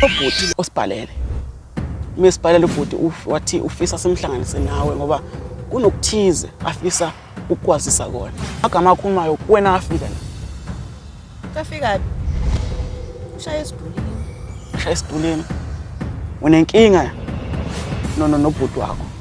ubhuti osibhalele uma sibhalele ubhuti wathi ufisa simhlanganise nawe ngoba kunokuthize afisa ukukwazisa kona agama akhumayo kuwena afika la kafika ushaya esidulini ushaya esidulini unenkinga nono nobhuti wakho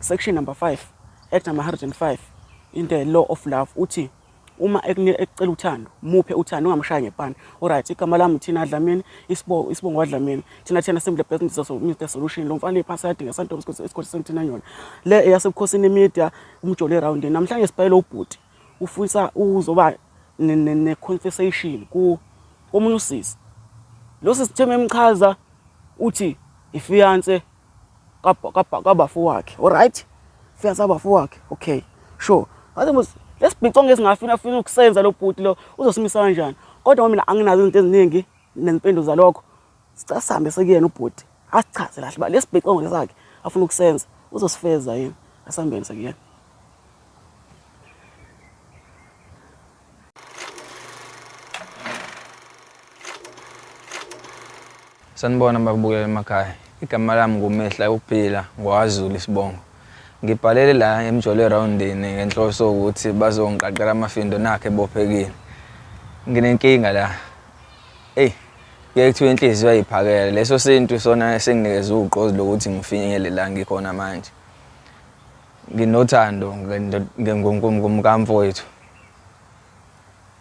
Section number 5 Act number 105 in the law of love uthi uma ekucela uthando muphe uthando ungamshaya ngepani alright igama lami thina dlamini isibongo isibongo wadlamini thina thina simple business so Mr solution lo mfana iphasa yadinga santo isikole isikole senthina yona le eyasebukhosini media umjole round namhlanje sibhayile ubhuti ufisa uzoba ne conversation ku omunye usisi lo sisitheme emchaza uthi ifiance kabafo wakhe alright fiance kabafo wakhe okay sure ngathi mos lesibhicongo esingafina afuna ukusenza lo bhuti lo uzosimisa kanjani kodwa mina anginazo izinto eziningi nezimpendulo zalokho sicela sihambe sekuyena ubhuti asichaze kahle uba lesibhicongo lesakhe afuna ukusenza uzosifeza yini asihambeni sekuyena Sanibona bakubukela emakhaya. Igama lami nguMehla Ukuphila ngwaZulu isibongo. Ngibhalele la emjolo erowundini ngenhloso ukuthi bazongiqaqela amafindo nakhe ebophekile. Nginenkinga la. Eyi, kuye kuthiwa inhliziyo ayiphakele. Leso sintu sona esinginikeza ugqozi lokuthi ngifinyele la ngikhona manje. Nginothando ngomkamfowethu.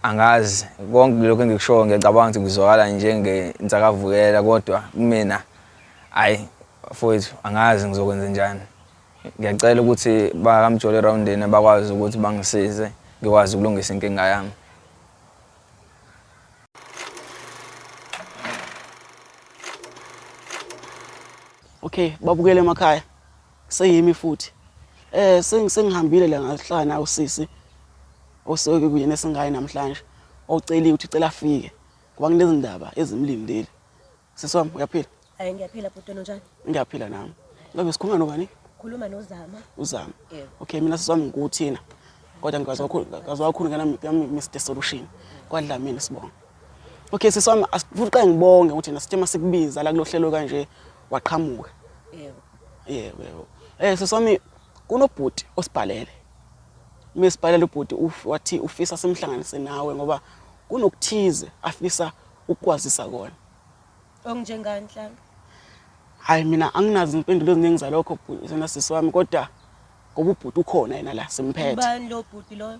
Angazi konke lokho engikushoyo ngiyacabanga ukuthi kuzwakala njengensakavukela kodwa kumina ayi mfowethu angazi ngizokwenza njani. Ngiyacela ukuthi bakamjolo erowundini bakwazi ukuthi bangisize ngikwazi ukulungisa inkinga yami. Okay, babukele emakhaya. Seyimi futhi. Eh sengihambile la ngahlala nawo sisi oseke kuyena esingayi namhlanje oceliwe ukuthi cela afike ngoba kunezindaba ezimlindele. Sisi wami uyaphila? Hayi ngiyaphila bhuti wena unjani? Ngiyaphila nami. Ngabe sikhuluma nobani? Khuluma noZama. UZama. Yeah. Okay mina sisi wami ngikuthina. Kodwa ngikwazi kakhulu ngikwazi kakhulu ngana Mr Solution. Kwadlamini sibonga. Okay sisi wami asifuqa ngibonge ukuthi na sithe masikubiza la kulohlelo kanje waqhamuka. Yebo. Yebo yebo. Eh sisi wami kunobhuti osibhalele. Mesibhalele ubhuti wathi ufisa simhlanganise nawe ngoba kunokuthize afisa ukukwazisa kona. Onginjengani nhlanga? Hayi mina anginazi impendulo eziningi zalokho bhuti sena sisi wami kodwa ngoba ubhuti ukhona yena la simphethe. Ubani lo bhuti loyo?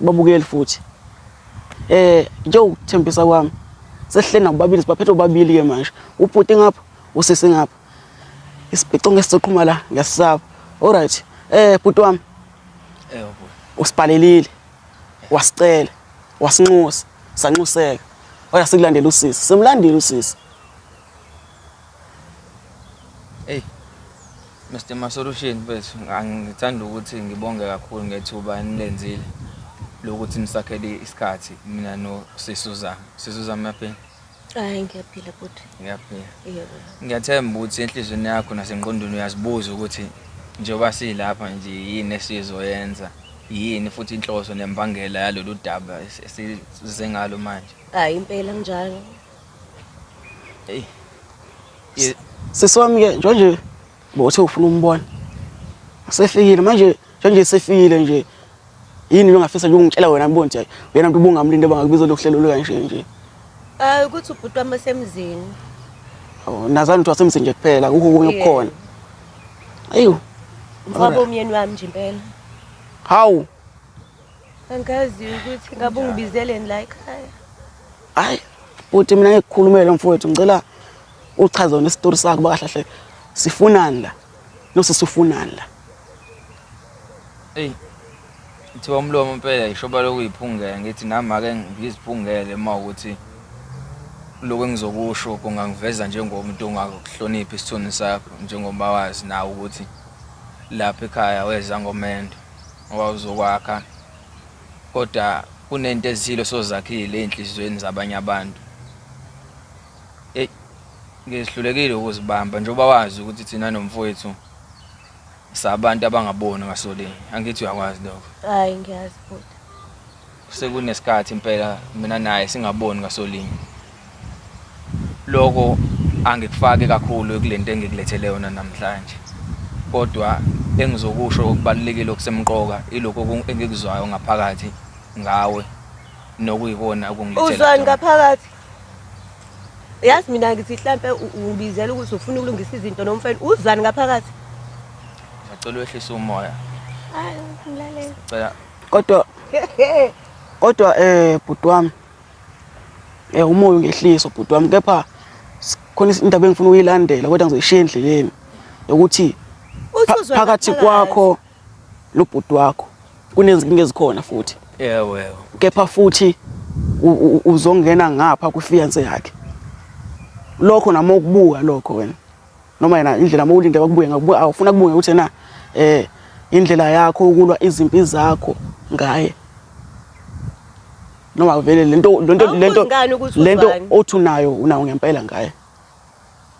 babukeli futhi eh njengokuthembisa kwami sesihleli nabo babili sibaphethe obabili ke manje ubhuti ngapha usisi ngapha isibhico ngesizoqhuma la ngesisaba alright eh bhuti wami eh bhuti usibhalelile wasicela wasinxusa sanxuseka waya sikulandela usisi simlandile usisi Hey Mr Masolution bethu ngithanda ukuthi ngibonge kakhulu ngethuba enilenzile lokuthi nisakhele isikhathi mina no Sisuzama Sisuzama yaphela Hayi ngiyaphila futhi ngiyaphila yebo ngiyathemba ukuthi enhlizweni yakho nasengqondweni uyazibuza ukuthi njengoba silapha nje yini esizoyenza yini futhi inhloso nembangela yalolu daba esize ngalo manje hayi impela njalo Hey. Ye- Sisi wami ke njengoba bothe ufuna umbona. Sefikile manje njengoba sefikile nje. Yini longafisa nje ungitshela wena ngibona ukuthi uyena umuntu ubungamlinde bangakubiza lokuhlelo lokanje nje. Eh ukuthi ubhuti wami osemzini. Awu nazani uthi wasemzini nje kuphela kukho kunye Yeah. kukhona. Ayiyo. Mfowabo umyeni wami nje impela. Hawu. Angazi ukuthi ngabe ungibizeleni la ekhaya. Hayi, uthi mina ngikukhulumele mfowethu ngicela uchaze wena isitori sakho bakahlahle. Sifunani la? Nosisi ufunani la? Ey. Kuthiwa umlomo impela ishoba lokuyiphungela ngithi nami ake ngiziphungele uma ukuthi lokho engizokusho kungangiveza njengomuntu ongakuhloniphi isithunzi sakho njengoba wazi nawe ukuthi lapha ekhaya weza ngomendo. Ngoba uzokwakha kodwa kunento ezithile osozakhile ezinhliziyweni zabanye abantu. Hey ngihlulekile ukuzibamba njengoba wazi ukuthi thina nomfowethu sabantu abangaboni ngasolinye. Angithi uyakwazi lokho? Hayi ngiyazi bhuti. Sekunesikhathi impela mina naye singaboni ngasolinye. Lokho angikufaki kakhulu ekulento engikulethele yona namhlanje. Kodwa engizokusho okubalulekile okusemqoka ilokho engikuzwayo ngaphakathi ngawe nokuyikona okungilethela. Uzwani ngaphakathi? Yazi mina ngithi mhlampe ungibizela ukuthi ufuna ukulungisa izinto nomfana. Uzwani ngaphakathi? Ngicela wehlisa umoya. Hayi, ngilalela. Ngicela kodwa kodwa eh bhuti wami eh umoya ungehliso bhuti wami kepha khona indaba engifuna uyilandela kodwa ngizoyishiya endleleni ukuthi phakathi kwakho lobhuti wakho kunezinkinga ezikhona futhi yebo yebo kepha futhi uzongena ngapha kufiance yakhe lokho noma ukubuka lokho wena noma yena indlela uma ulinde kwakubuye ngakubuye awufuna kubuye ukuthi yena eh indlela yakho ukulwa izimpi zakho ngaye noma vele lento lento lento lento othi unayo unawo ngempela ngaye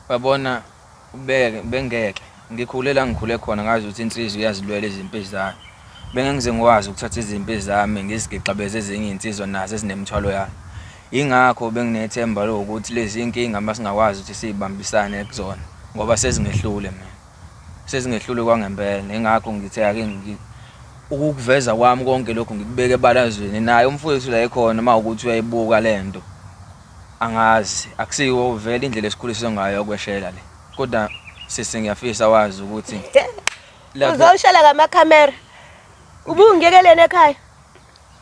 babona ubeke bengeke ngikhule la ngikhule khona ngazi ukuthi insizwa iyazilwela izimpi zayo bengengize ngikwazi ukuthatha izimpi zami ngizigixabeze ezinye insizwa nazo ezinemthwalo yayo Yingakho benginethemba lokuthi lezi iy'nkinga uma singakwazi ukuthi siy'bambisane kuzona ngoba sezingehlule mina. Sezingehlule kwangempela, yingakho ngithe ake ukukuveza kwami konke lokhu ngikubeke ebalazweni naye umfowethu la ekhona uma ukuthi uyayibuka le nto angazi akusiwo vele indlela esikhuliswe ngayo yokweshela le kodwa sisi ngiyafisa wazi ukuthi uzoshela ngamakhamera ubungiyekeleni ekhaya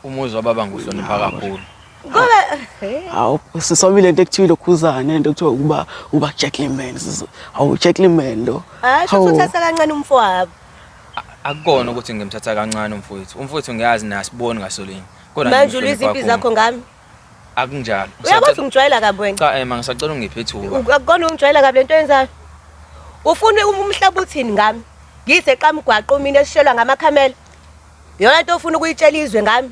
Umuzi wababa nguhlonipha kakhulu. Ngoba hawu sisomile into ekuthiwa lokhuzane into ekuthiwa ukuba uba gentleman hawu gentleman lo. Hayi sho uthatha kancane umfowabo. Akukona ukuthi ngimthatha kancane umfowethu. Umfowethu ngiyazi nasiboni ngasolinye. Kodwa manje uliziphi impilo zakho ngami? Akunjalo. Uyakwazi ungijwayela kabi wena? Cha ema eh, ngisacela ungiphe ithuba. Akukona ungijwayela kabi lento yenzayo. Ufuna umhlaba uthini ngami? Ngise qamgwaqo mina esishelwa ngamakhamela. Yona into ofuna ukuyitshela izwe ngami.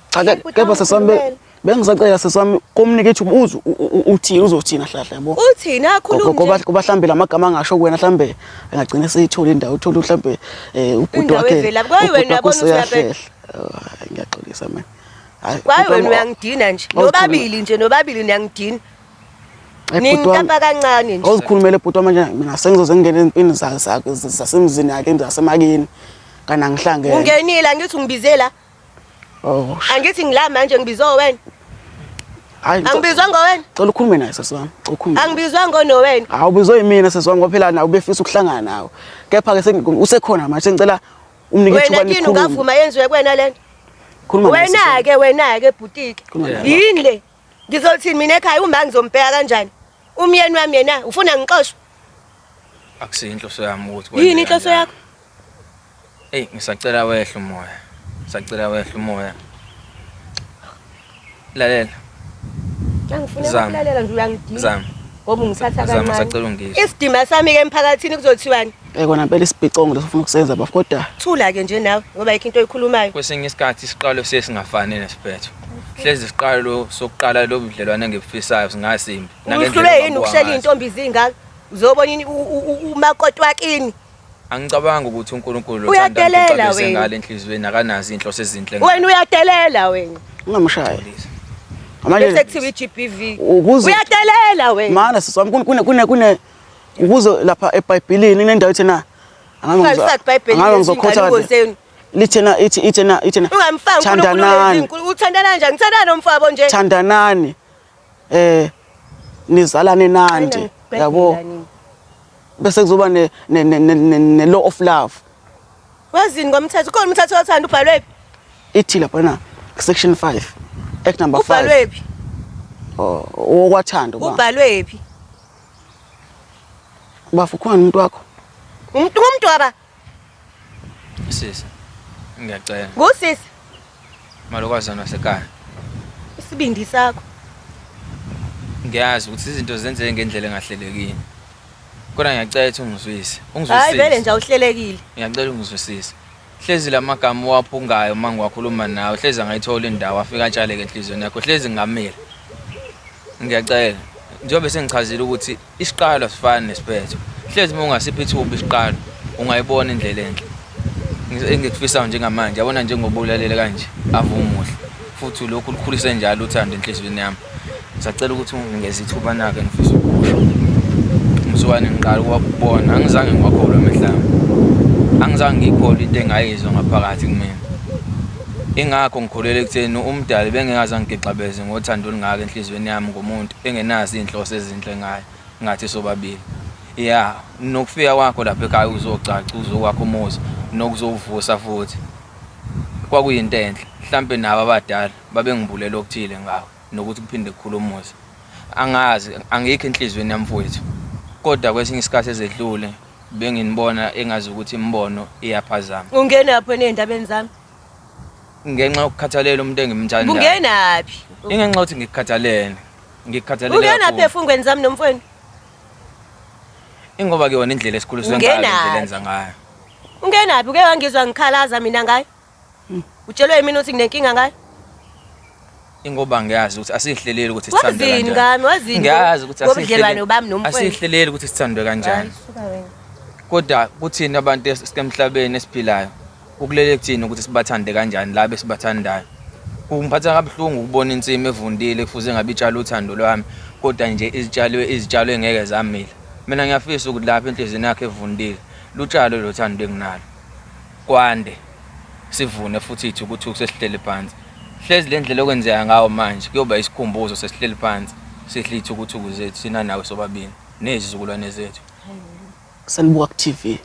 Cha kepha sesami bengisacela sesami komunike ithuba uze uthini uzothina hlahla yabo. Uthini akhuluma nje. Kuba hlambe lamagama angasho kuwena hlambe engagcina eseyithola indawo uthola hlambe eh, ubhuti wakhe. Ubhuti wakhe useyahlehla. Ngiyaxolisa mina. Kwaye wena uyangidina nje. Nobabili nje nobabili niyangidina. Ningikapa kancane nje. Ozikhulumele bhuti wami manje mina sengizoze ngingene empini zakhe zasemzini yakhe zasemakini. Kana ngihlangene. Ungenile angithi ungibizela. Oh. Angithi ngila manje ngibizwa wena. Hayi. Angibizwa ngowena. Cela ukhulume naye sesi wami. Cela ukhulume. Angibizwa ngono wena. Awubizwa yimina sesi wami ngoba phela nawe ubefisa ukuhlangana nawe. Kepha ke usekhona manje sengicela umnike ithuba likhulume. Wena kini ungavuma yenziwe kuwena lento. Khuluma naye. Wena ke wena ke bhutike. Yini le? Ngizolithini mina ekhaya uma ngizombheka kanjani? Umyeni wami yena ufuna ngixoshwe. Akusiyo inhloso yami ukuthi kwenzeke Yini inhloso kanjalo. yakho? Ey ngisacela wehle umoya. Ngisacela wehle umoya. Lalela Angifuna Zama. ukulalela nje uyangidinga. Zama. Ngoba ungithatha Zama, kancane. sacela ungizwe. Isidima sami ke emphakathini kuzothiwani? Eh kona phela isibhicongo lesifuna ukusenza bafo kodwa. Thula ke nje nawe ngoba yikho into oyikhulumayo. Kwesinye isikhathi isiqalo sesingafani nesiphetho. Hlezi isiqalo sokuqala lo budlelwane ngebufisayo singasimbi. Uhlule yini ukushela intombi zingaka? Uzobona ini umakotwakini? Angicabanga ukuthi uNkulunkulu uthanda ukuthi sengale enhlizweni akanazi inhloso ezinhle. Wena uyadelela wena. Ungamshaya. Manje sekuthiwa iGBV. Uyadelela wena. Mana siswami kune kune kune ukuze lapha ebhayibhilini kunendawo ethena angabe ngizokhotha lithena ithi ithena ithena thandanani uthandana njani ngithandana nomfabo nje thandanani eh nizalane nandi yabo bese kuzoba ne ne law of love wazini ngomthetho ukhona umthetho othanda ubhalwe phi ithi lapha na section 5 act number 5 ubhalwe phi oh, okwathanda ubhalwe phi Bafo ukhona umuntu wakho? Umuntu umuntu waba? Sisi. Ngiyacela. Ngusisi. Malokwazana wasekhaya. Isibindi sakho. Ngiyazi ukuthi izinto zenzeke ngendlela engahlelekile. Kodwa ngiyacela ukuthi ungizwise. Ungizwisise. Hayi vele nje awuhlelekile. Ngiyacela ungizwisise. Hlezi lamagama uwaphungayo uma ngiwakhuluma nawe hlezi angayithola indawo afika atshaleke enhlizweni yakho hlezi ngamile ngiyacela njengoba sengichazile ukuthi isiqalo asifani nesiphetho hlezi uma ungasiphi ithuba isiqalo ungayibona indlela enhle engikufisayo njengamanje yabona njengoba ulalele kanje avumuhle futhi lokhu lukhulise njalo uthando enhliziyweni yami ngisacela ukuthi ungeze ithuba nake ngifisa ukusho umsukane ngiqala ukubona angizange ngiwakholwe emehlami angizange ngiyikholwe into engayizwa ngaphakathi kumina ingakho ngikholele ekutheni umdali bengekaze angigixabeze ngothando olungaka enhliziyweni yami ngomuntu engenazi iy'nhloso ezinhle ngayo ngathi sobabili ya nokufika kwakho lapha ekhaya uzocaca uzokwakho umuzi nokuzowuvusa futhi Kwakuyinto enhle, mhlampe nabo abadala babengibulela okuthile ngakho nokuthi kuphinde kukhule umuzi. Angazi, angikho enhliziyweni yami mfowethu. Kodwa kwesinye isikhathi ezedlule benginibona engazi ukuthi imibono iyaphazama. Ungenaphi wena ey'ndabeni zami? Ngenxa yokukhathalela umuntu engimthandayo. Ungenaphi? Ingenxa yokuthi ngikukhathalele. Ngikukhathalele kakhulu. Ungenaphi efungweni zami nomfweni? Ingoba-ke yona indlela esikhuliswe ngayo, indlela enza ngayo. Ungenaphi uke wangizwa ngikhalaza mina ngaye? Hmm. Utshelwe yimina ukuthi nginenkinga ngaye? ingoba ngiyazi ukuthi asihleleli ukuthi sithandwe kanjani. Wazini ngami, wazini. Ngiyazi ukuthi asihleleli ubami nomfowethu. Asihleleli ukuthi sithandwe kanjani. Kodwa kuthina abantu esemhlabeni esiphilayo ukulele kuthina ukuthi sibathande kanjani laba esibathandayo. Kungiphatha kabuhlungu ukubona insimi evundile kufuze ngabe itshala uthando lwami kodwa nje izitshalwe izitshalo engeke zamila. Mina ngiyafisa ukuthi lapha enhlizweni yakhe evundile Lutshalo lo thando enginalo kwande sivune futhi ithi ukuthi sesihleli phansi hlezi le ndlela okwenzeka ngawo manje kuyoba isikhumbuzo sesihleli phansi sihle ithukuthuku zethu sina nawe sobabili nezizukulwane zethu sanibuka ku-TV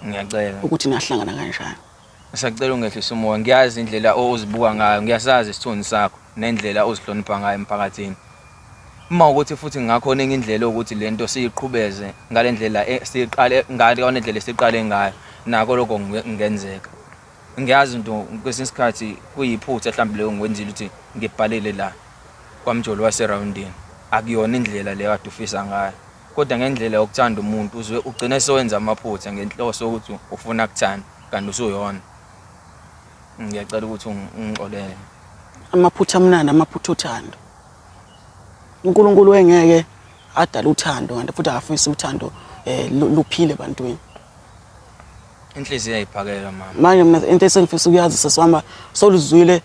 ngiyacela ukuthi nahlangana kanjani Ngisacela ungehlisa umoya ngiyazi indlela ozibuka ngayo ngiyasazi isithunzi sakho nendlela ozihlonipha ngayo emphakathini uma ukuthi futhi ngakhona enye indlela ukuthi lento siyiqhubeze ngalendlela e, siqale ngale nendlela siqale ngayo nako lokho ngenzeka ngiyazi into kwesinye isikhathi kuyiphutha mhlawumbe leyo ngikwenzile ukuthi ngibhalele la kwamjolo waseroundini akuyona indlela leyo kade ufisa ngayo kodwa ngendlela yokuthanda umuntu uzwe ugcine sewenza amaphutha ngenhloso ukuthi ufuna kuthanda Kanti usuyona. Ngiyacela ukuthi ungixolele. Amaphutha amnandi amaphutha othando. uNkulunkulu wengeke adala uthando kanti futhi akafisi uthando eh luphile ebantwini. Inhliziyo iyayiphakela mama. Manje mina into esengifisa ukuyazi sesihamba soluzwile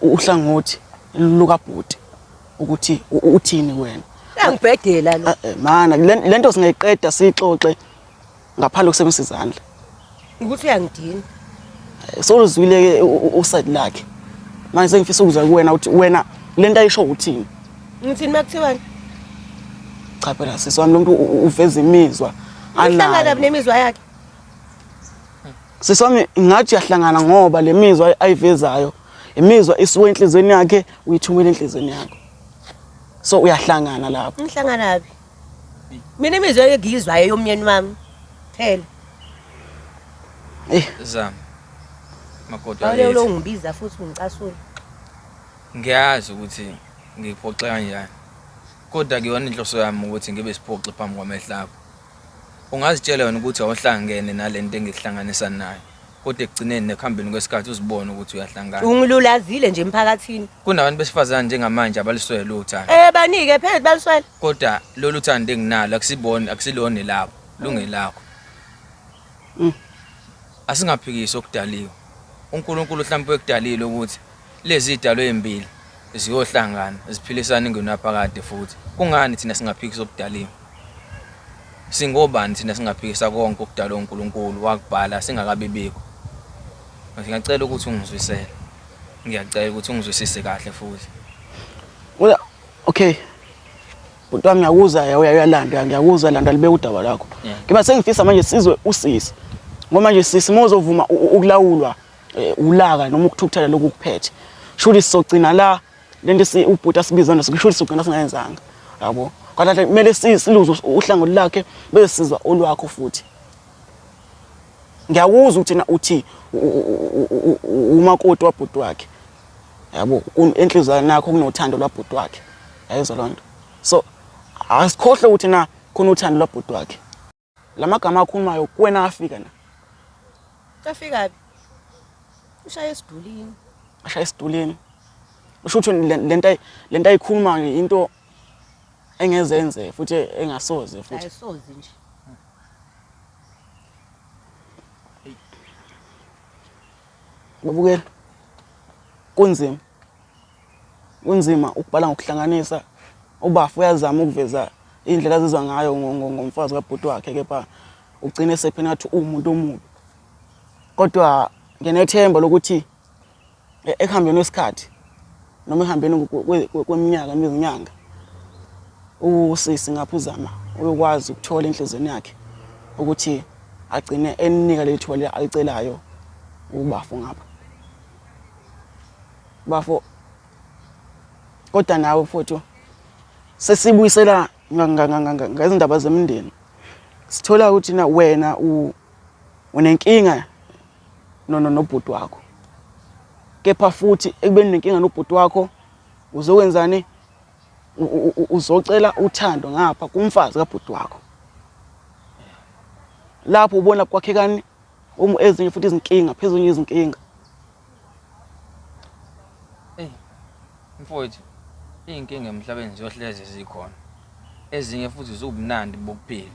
uhlangothi lukabhuti ukuthi uthini wena. Uyangibhedela lo. Eh, eh, mana lento singayiqeda sixoxe ngaphandle kusebenzisa izandla ukuthi uyangidina soluzwile ke uside lakhe manje sengifisa ukuzwa kuwena ukuthi wena lento ayisho uthini ngithini makuthiwani cha phela sisi wami lomuntu uveza imizwa anayo nemizwa yakhe sisi wami ngathi uyahlangana ngoba le mizwa ayivezayo imizwa isuke enhlizweni yakhe uyithumela enhlizweni yakho so uyahlangana lapho ngihlangana phi mina imizwa engiyizwayo yomnyeni wami phela zama makoti Awule wakithi ulongibiza futhi ungicasula. ngiyazi ukuthi ngikuphoxe kanjani kodwa kuyona inhloso yami ukuthi ngibe siphoxi phambi kwamehlo akho ungazitshela wena ukuthi awuhlangene nale nto engikuhlanganisa nayo kodwa ekugcineni nekuhambeni kwesikhathi uzibone ukuthi uyahlangana Ungilulazile nje emphakathini. kunabantu besifazane njengamanje abaliswele uthando Eh banike phela baliswela. kodwa lolu thando enginalo akusibona akusilona elakho lungelakho mm. asingaphikisi okudaliwe uNkulunkulu mhlawumbe ekudalile ukuthi lezi idalo ezimbili ziyohlangana ziphilisana ingenaphakade futhi kungani thina singaphikisa okudaliwe singobani thina singaphikisa konke okudalwe uNkulunkulu wakubhala singakabibikho ngiyacela ukuthi ungizwisele ngiyacela ukuthi ungizwisise kahle futhi okay bhuti wami ngiyakuzwa uyalanda ngiyakuzwa landa libe udaba lakho ngiba sengifisa manje sizwe usisi ngoba manje sisi mozovuma ukulawulwa eh, ulaka noma ukuthukuthela lokhu kuphethe shuthi sizogcina la lento si ubhuti asibiza naso shuthi sizogcina singayenzanga yabo kodwa kumele siluze uhlangothi lakhe bese sizwa olwakho futhi ngiyakuzwa ukuthi na uthi umakoti wabhuti wakhe yabo inhliziyo yakhe nakho kunothando lwabhuti wakhe yayizwa loo nto so asikhohle ukuthi na khona uthando lwabhuti wakhe la magama akhulumayo kuwena afika na afika phi ushaye esidulini ashaye esidulini usho ukuthi le nto le nto ayikhulumayo into engezenze futhi engasoze futhi ayisoze nje Babukela. Kunzima. Kunzima ukubhala ngokuhlanganisa ubafu uyazama ukuveza indlela azizwa ngayo ngomfazi kabhuti wakhe kepha ugcine sephena ngathi uwumuntu omubi kodwa nginethemba lokuthi e-, ekuhambeni wesikhathi noma ehambeni kweminyaka nezinyanga usisi ngapha uzama uyokwazi ukuthola enhlizweni yakhe ukuthi agcine eninika leli thuba alicelayo ubafo ngapha bafo kodwa nawe futhi sesibuyisela ngezindaba zemindeni sithola ukuthi na wena unenkinga no no nobhuti wakho kepha futhi ekubeni nenkinga nobhuti wakho uzokwenzani uzocela uthando ngapha kumfazi kabhuti wakho lapho ubona kwakhekani uma ezinye futhi izinkinga phezulu izinkinga hey mfowethu izinkinga emhlabeni ziyohleze zikhona ezinye futhi ziwubunandi bokuphila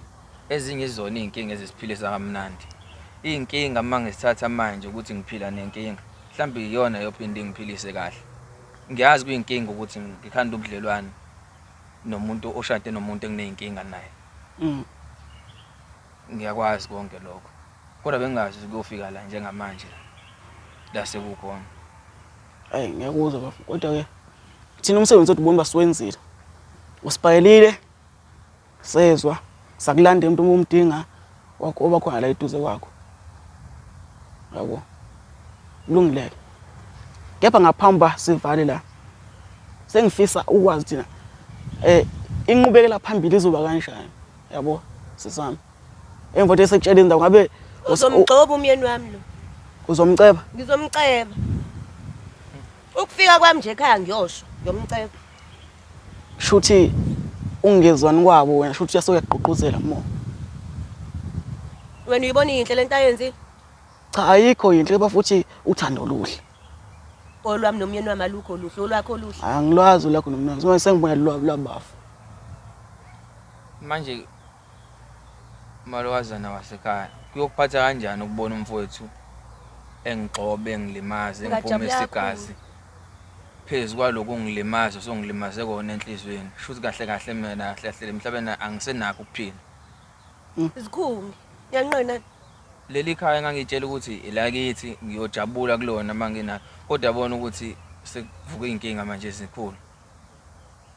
Ezinye izona iy'nkinga ezisiphilisa kamnandi. Iy'nkinga uma ngisithatha manje ukuthi ngiphila nenkinga, mhlawumbe iyona eyophinde ingiphilise kahle. Ngiyazi kuyinkinga ukuthi ngikhanda ubudlelwane nomuntu oshade nomuntu enginey'nkinga naye. Mm. Ngiyakwazi konke lokho. Kodwa bengingazi ukuthi kuyofika la njengamanje la sekukhona. Ayi ngiyakuzwa bafo kodwa-ke thina umsebenzi wethu bona uba siwenzile. Usibhalelile Sezwa, sakulanda umuntu uma umdinga wakho oba khona la eduze kwakho. Yabo. Kulungileke. Kepha ngaphambi ba sivale la. Sengifisa ukwazi thina eh inqubekela phambili izoba kanjani. Yabo sisami. Emva nje sekutshela indawo ngabe uzomgcoba umyeni wami lo. Uzomceba? Ngizomceba. Ukufika kwami nje ekhaya ngiyosho, ngiyomceba. Shuthi ungezwani kwabo wena shuthi uyase uyagqugquzela more. Wena uyibona yinhle lento ayenzile? Cha ayikho yinhle kepha futhi uthando oluhle. Olwami nomyeni wami alukho luhle, olwakho oluhle. Angilwazi olwakho nomyeni wami. Sengibuya lwabafu. Manje Umalokazana wasekhaya, kuyokuphatha kanjani ukubona umfowethu engigxoba, engilimaza, engiphumisa igazi? Phezu kwaloku ungilimaza osongilimaze kona enhliziyweni, shuthi kahle kahle mina kahle kahle le mhlabeni angisenakho ukuphila. Zikhunge, ngiyanqena. Leli khaya engangitshela ukuthi elakithi ngiyojabula kulona uma nginalo kodwa yabona ukuthi sekuvuka iy'nkinga manje ezikhulu.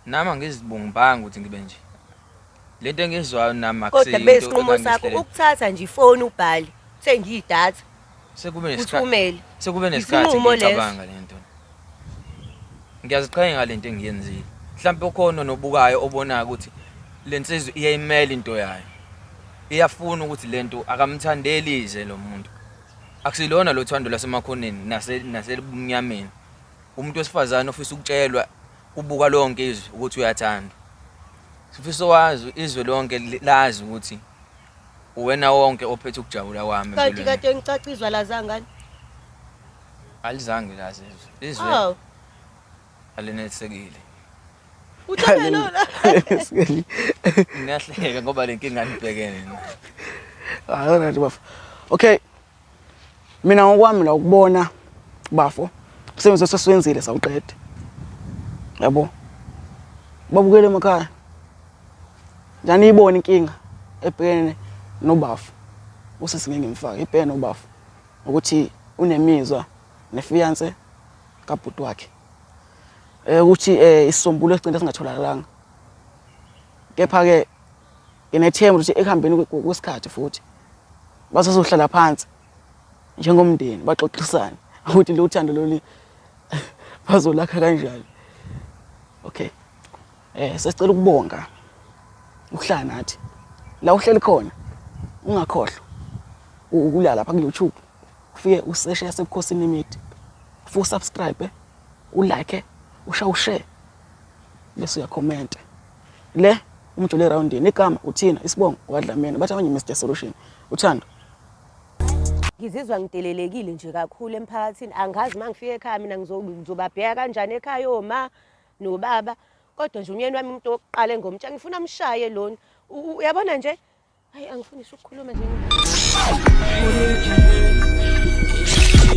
Nami angizibungibanga ukuthi ngibe nje. Lento engizwayo nami akuseyinto. Kodwa besinqumo sakho ukuthatha nje ifoni ubhali, uthenga idatha. Sekube nesikhathi. Sekube nesikhathi ngicabanga lento. Ngiyaziqhenya ngalento engiyenzile. Mhlawumbe ukhona nobukayo obonayo ukuthi lensizwe iyayimela into yayo. Iyafuna ukuthi lento akamthandeli ize lo muntu. Akusilona lo thando lasemakhoneni naselibumnyameni. Umuntu wesifazane ofisa ukutshelwa Ubuka lonke izwe ukuthi uyathandwa. Sifisa wazi izwe lonke lazi ukuthi uwena wonke ophethe ukujabula kwami. Kanti kade ngicacizwa lazangani? Alizange lazi izwe. Izwe. Oh. Alinelisekile. Uthanda lona. Ngiyahleka ngoba lenkinga nibhekene. Hayi wena nje bafa. Okay. Mina ngokwami la ukubona bafo umsebenzi osesiwenzile sawuqede. Yabo. Babukele emakhaya. Njani ibona inkinga ebhekene nobafo. Usisi ngeke ngimfake ibhekene nobafo ukuthi unemizwa nefiance kabhuti wakhe. Eh ukuthi eh isisombululo esigcina singatholakalanga. Kepha ke Nginethemba ukuthi ekuhambeni kwesikhathi futhi basazohlala phansi njengomndeni baxoxisane ukuthi lo thando lolu bazolakha kanjani. Okay. Eh sesicela ukubonga ukuhlala nathi. La uhleli khona ungakhohlwa ukulala lapha ku YouTube. Ufike useshe yasebukhosini imithi. Fu subscribe, eh? u like, eh? usha ushare. Bese uyakhomenta. Le umjule erawundini igama uthina isibongo kwadlamini bathi abanye Mr Solution uthando. Ngizizwa ngidelelekile nje kakhulu emphakathini angazi uma ngifika ekhaya mina ngizobabheka kanjani ekhaya oma nobaba kodwa nje umyeni wami umuntu wokuqala engomtsha ngifuna mshaye lona uyabona nje hayi angifuni ukukhuluma nje